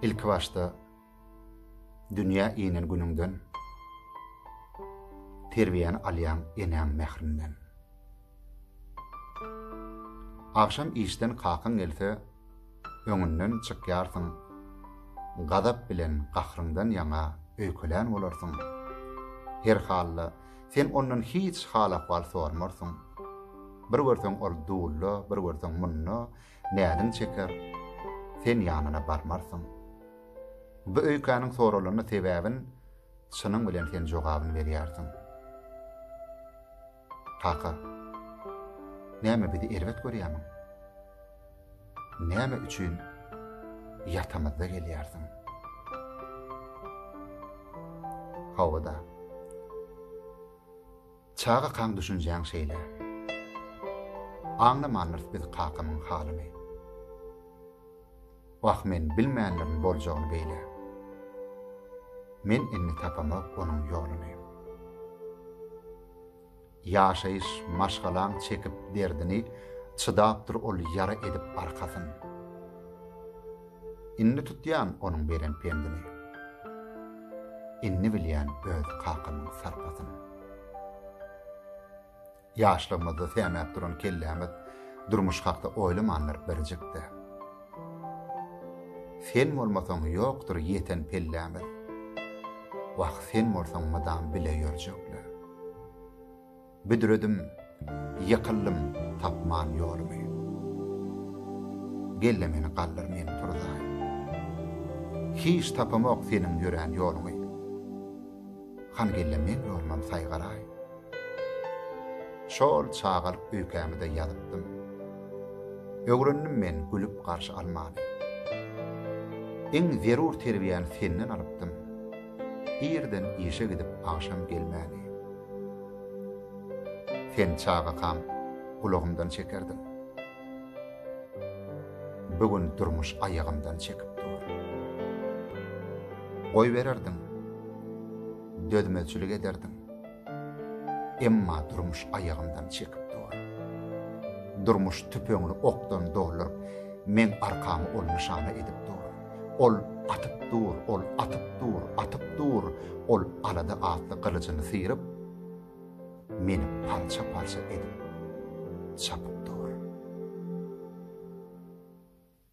Ilkibaşda dünýä inen günüňden terbiýäni alýaň enäň mährinden. Agşam işden kakaň gelse, öňünden çykýarsyň. Gazap bilen gahryňdan ýaňa öýkelän bolarsyň. Her halda, sen ondan hiç hal-ahwal sormarsyň. Bir görseň ol dulda, bir görseň munda, näzin çeker, sen ýanyna barmarsyň. Bu öýkäniň soralanda sebäbin çynyň bilen sen jogabyny berýärsiň. Kaka, näme bizi erbet görýärmiň? Näme üçin ýatamyzda gelýärsiň? Hawa-da. Çagakaň düşünjäň şeýle. Aňlamandyrys biz kakamyň halyny. Wah men bilmändirin boljagyny beýle. Men indi tapamok onuň ýoluny. Ýaşaýyş maşgalaň çekip derdini, çydapdyr ol ýara edip arkasyn. Indi tutýan onuň beren pendini. Indi bilýän öz kakamyň sarpasyny. Ýaşlygymyzda sämäp duran kellämiz durmuş hakda oýlamandyr birjik-de. Sen bolmasaň ýokdur ýeten pellämiz. Wah, sen bolsaň mydam bile ýörjekle. Büdredim, ýykyldym tapman ýolumy. Gel-le meni galdyr men turzaý. Hiç tapamok seniň ýörän ýoluňy. Hany gel-le men ýolumam saýgaraý. Şol çagalyk öýkämi-de ýazypdym. Öwrendim men gülüp garşy almany. Iň zerur terbiýäni senden alypdym. Irden işe gidip agşam gelmäni. Sen çagakam gulagymdan çekerdiň. Bu gün durmuş aýagymdan çekip dur. Goýbererdiň. Dözmezçilik ederdiň. Emma durmuş aýagymdan çekip dur. Durmuş tüpeňini okdan dolduryp, meň arkamy ol nyşana edip dur. Ol atyp dur, ol atyp dur, atyp dur, ol alada atly gylyjyny syryp, meni parça-parça edip çapyp dur.